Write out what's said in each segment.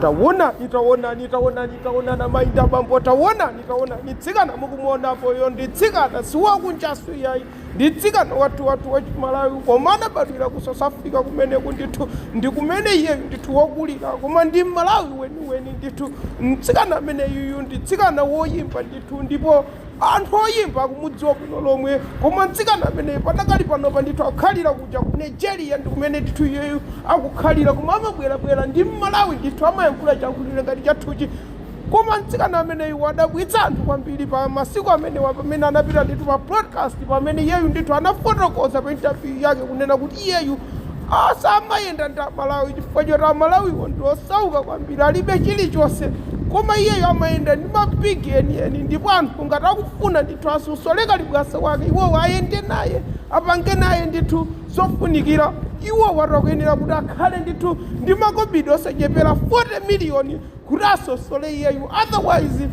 Taonani, taonani, taonani, taonani amayi ndi abambo, taonani, taonani tsikana mukumuonapoyo ndi tsikana siwakunjanso iyayi, ndi tsikana wathu wathu wa Chimalawi koma anabadwira ku South Africa kumeneku ndithu ndi kumene iyeyu ndithu wakulira koma ndi Mmalawi weniweni ndithu. Mtsikana ameneyuyu ndi tsikana woyimba ndithu ndipo. Anthu oyimba akumudziwa bwino lomwe koma mtsikana ameneyu padakali panopa ndithu akukhalira kuja ku Nigeria ndikumene ndithu iyeyu akukhalira koma amabwelabwela ndi mmalawi ndithu amayankhula chiyankhulo ngati chathuchi koma mtsikana ameneyu wadabwitsa anthu kwambili pa masiku amenewa pamene anapita ndithu pa broadcast pamene iyeyu ndithu anafotokoza pa interview yake kunena kuti iyeyu samayenda ndi amalawi chifukwa choti amalawiwo ndi osauka kwambiri alibe chilichonse koma iyeyo amayenda ndi ma big enieni ndipo anthu ngati akufuna ndithu asosole kalibwasa wake iwowo ayende naye apange naye ndithu zofunikira iwowo ati akuyenera kuti akhale ndithu ndi makobiri osachepera 40 miliyoni kuti asosole iyeyu otherwise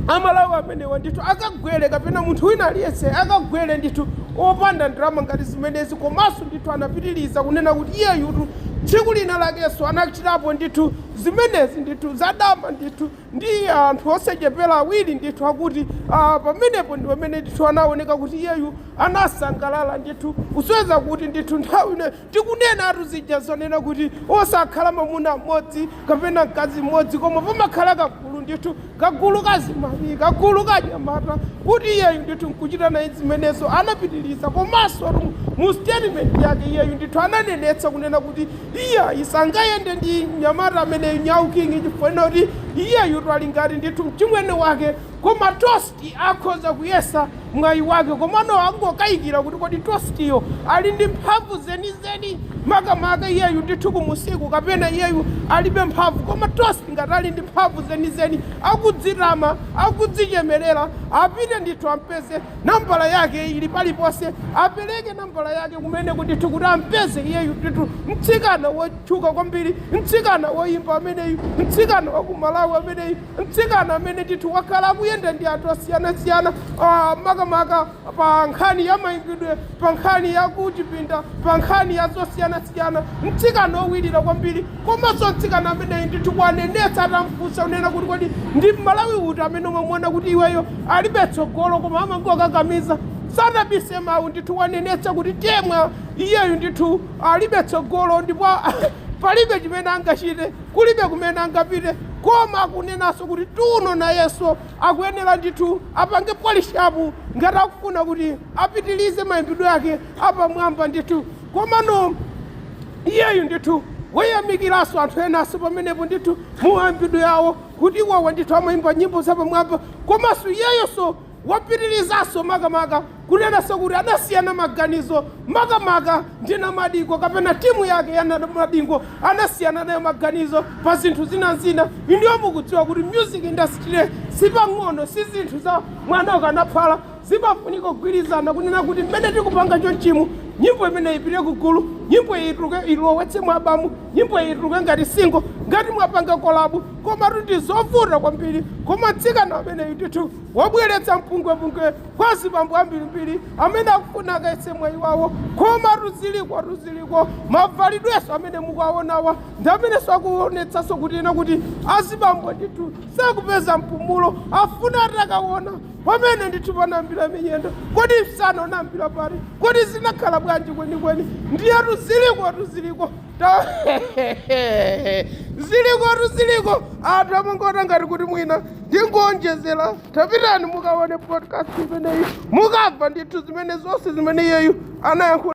Amalawi amenewa ndithu akagwele kapena munthu wina aliyense akagwele ndithu opanda ndalama ngati zimenezi komanso ndithu anapitiliza kunena kuti iyeyutu tsiku lina lakenso anachitapo ndithu zimenezi ndithu za dama ndithu ndi anthu osachepela awiri ndithu akuti aah pamenepo ndipamene ndithu anaoneka kuti iyeyu anasangalala ndithu kusonyeza kuti ndithu nthawi Tikunena athu zija zonena kuti osakhala mamuna mmodzi kapena mkazi mmodzi koma pamakhala kagulu ndithu, kagulu ka azimayi, kagulu ka anyamata kuti iyeyu ndithu nkuchita naye zimenezo. Anapitiliza komansotu mu statement yake iyeyu ndithu ananenetsa kunena kuti iyayi sangayende ndi mnyamata ameneyu Nyau King chifukwa chonena kuti iyeyutu ali ngati ndithu mchimwene wake koma tos. ti akhoza kuyesa mwayi wake komano angokayikira kuti kodi Tostiyo ali ndi mphamvu zenizeni makamaka iyeyu ndithu kumusiku kapena iyeyu alibe mphamvu koma Tosti ngati ali ndi mphamvu zenizeni akudzitama akudzichemerera apite ndithu ampeze nambala yake ili paliponse apereke nambala yake kumeneko ndithu kuti ampeze iyeyu ndithu mtsikana wotchuka kwambiri mtsikana woyimba ameneyu mtsikana wa ku Malawi ameneyu Mtsikana amene ndithu wakhala akuyenda ndi anthu osiyanasiyana makamaka pa nkhani ya mayimbidwe, pa nkhani ya kuchipinda, pa nkhani ya zosiyanasiyana, mtsikana owirira kwambiri komanso mtsikana ameneyu ndithu wanenetsa atamufunsa kunena kuti kodi ndi m'Malawi uti amene umamuona kuti iweyo alibe tsogolo koma amangokakamiza, sanabise mawu ndithu wanenetsa kuti Temwa iyeyu ndithu alibe tsogolo ndipo palibe chimene angachite. Kulibe kumene angapite koma akunenanso kuti Tuno nayenso akuyenera ndithu apange polish up ngati akufuna kuti apitilize maimbidwe yake apamwamba ndithu komano iyeyu ndithu wayamikiranso anthu enanso pamenepo ndithu mumaimbidwe yawo kuti iwowa ndithu amaimba nyimbo zapamwamba komanso iyeyonso Wapitirizanso makamaka kunenanso kuti anasiyana maganizo makamaka ndi Namadingo kapena timu yake ya Namadingo anasiyana nayo maganizo pa zinthu zina n'zina, inuyo mukudziwa kuti music industry sipang'ono, si zinthu za mwana ukanaphala, zimafunika kugwirizana kunena kuti mmene tikupanga chonchimu nyimbo imeneyi ipite ku gulu, nyimbo iyi ituluke, ilowetse mu album, nyimbo iyi ituluke ngati single, ngati mwapanga collab, komatu n'zovuta kwambiri, koma mtsikana ameneyu ndithu. wabweretsa mpungwepungwe kwa azibambo ambirimbiri amene akufuna akayese mwayi wawo komatu zilikotu ziliko mavalidwenso amene mukuwaonawa ndi amenenso akuonetsanso kuti ena kuti azibambo ndithu sakupeza mpumulo afuna atakaona pamene ndithu panayambira miyendo kodi msana unayambira pati kodi zinakhala bwanji kwenikweni ndiyetu zilikotu ziliko Zilikotu ziliko anthu amangoona ngati kuti mwina ndikuonjezera tapitani mukaone podcast imeneyi mukamva ndithu zimene zonse zimene iyeyu anayankhula